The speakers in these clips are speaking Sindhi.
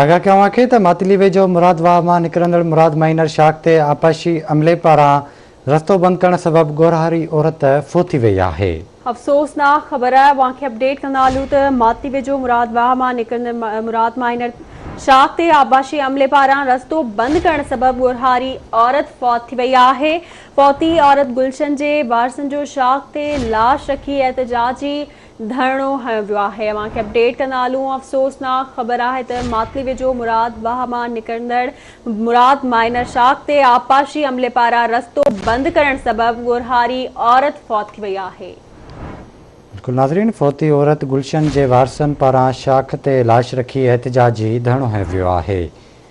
آگاهه ڪيان اوهان کي ته ماتلي ويجهو مراد واهه مان نڪرندڙ مراد مائينر شاخ تي آبپاشي عملي پاران رستو بند ڪرڻ سبب ڳورهاري عورت فوت ٿي وئي آهي. افسوسناڪ خبر اوهان کي اپڊيٽ ڪندا هلون ته ماتلي ويجهو مراد واهه مان نڪرندڙ مراد مائينر شاخ تي آبپاشي عملي پاران رستو بند ڪرڻ سبب ڳورهاري عورت فوت ٿي وئي آهي. فوتي عورت گلشن جي وارثن جو شاخ تي لاش رکي احتجاجي ڌرڻو هنيو ويو آهي اوهان کي اپڊيٽ ڪندا هلون افسوسناڪ خبر آهي ته ماتلي ويجهو مراد واهه مان نڪرندڙ مراد مائنر شاخ تي آبپاشي عملي پاران رستو بند ڪرڻ سبب ڳورهاري عورت فوت ٿي وئي آهي. بلڪل ناظرين فوتي عورت گلشن جي وارثن پاران شاخ تي لاش رکي احتجاجي ڌرڻو هنيو ويو آهي.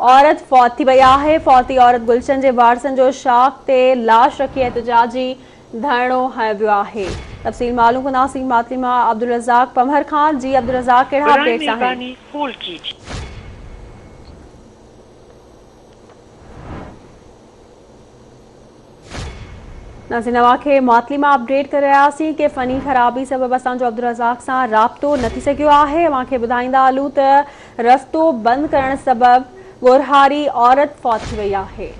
عورت فوت ٿي وئي آهي، فوتي عورت گلشن جي وارثن جو شاخ تي لاش رکي احتجاجي ڌرڻو هنيو ويو آهي، تفصيل معلوم ڪنداسين ماتلي مان عبدالرزاق پنهور کان، جي عبدالرزاق ڪهڙا اپڊيٽس آهن؟ نازي نوا کي معطلي مان اپڊيٽ ڪري رهياسين ڪي فني خرابي سبب اسان جو عبدالرزاق سان رابطو نه ٿي سگهيو آهي اوهان کي ٻڌائيندا هلون ته رستو بند ڪرڻ سبب ڳورهاري عورت فوت ٿي وئي آهي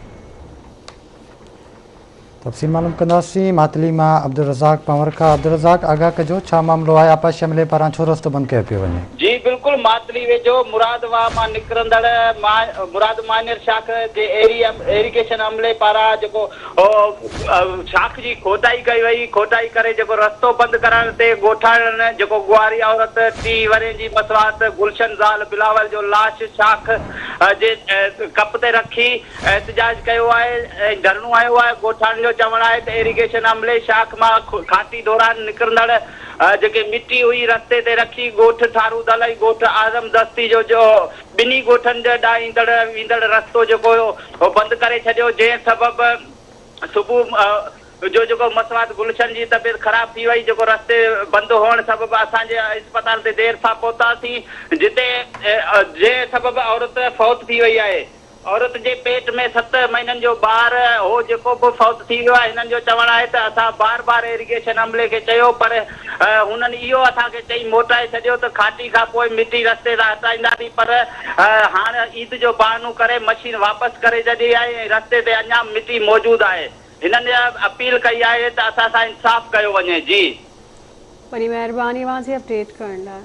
تفصيل معلوم ڪنداسين معطلي مان عبدالرزاق پنور کان عبدالرزاق آگاهه ڪجو ڇا معاملو آهي آپا شملي پاران ڇو رستو بند ڪيو پيو وڃي جي بلڪل ماتلي ويجهو مراد واهه مان نڪرندڙ مراد مانير شاخ جي ايريگيشن عملي پاران جيڪو شاخ جي کوٽائي ڪئي وئي کوٽائي ڪري جيڪو رستو بند ڪرائڻ تي ڳوٺاڻن جيڪو ڳوهاري عورت ٽي ورهين جي مصواعت گلشن زال بلاول جو لاش شاخ جي ڪپ تي رکي احتجاج ڪيو آهي ۽ ڌرڻو هنيو آهي ڳوٺاڻن جو چوڻ آهي ته ايريگيشن عملي شاخ مان کاٽي دوران نڪرندڙ جيڪي مٽي هئي رستي تي رکي ڳوٺ ٿارو دل ۽ ڳوٺ اعظم دستي جو جو ٻنهي ڳوٺن ڏانهن ايندڙ ويندڙ رستو جيڪو هيو اهو بند ڪري ڇڏيو جنهن سبب صبح جو جيڪو مسوات گلشن جي طبيعت خراب ٿي وئي جيڪو رستي بند هئڻ سبب اسان جي اسپتال تي دير سان پهتاسين جتي جنهن سبب عورت فوت ٿي وئي آهي. عورت جي پيٽ ۾ ست مهينن جو ٻار هو جيڪو به فوت ٿي ويو آهي، هنن جو چوڻ آهي ته اسان بار بار ايريگيشن عملي کي چيو پر هنن اهو اسان کي چئي موٽائي ڇڏيو ته کاٽي کان پوء مٽي رستي تان هٽائينداسين پر هاڻ عيد جو بهانو ڪري مشين واپس ڪري ڇڏي آهي ۽ رستي تي اڃا به مٽي موجود آهي، هنن اپيل ڪئي آهي ته اسان سان انصاف ڪيو وڃي. جي. وڏي مهرباني واسي اپڊيٽ ڪرڻ لاء.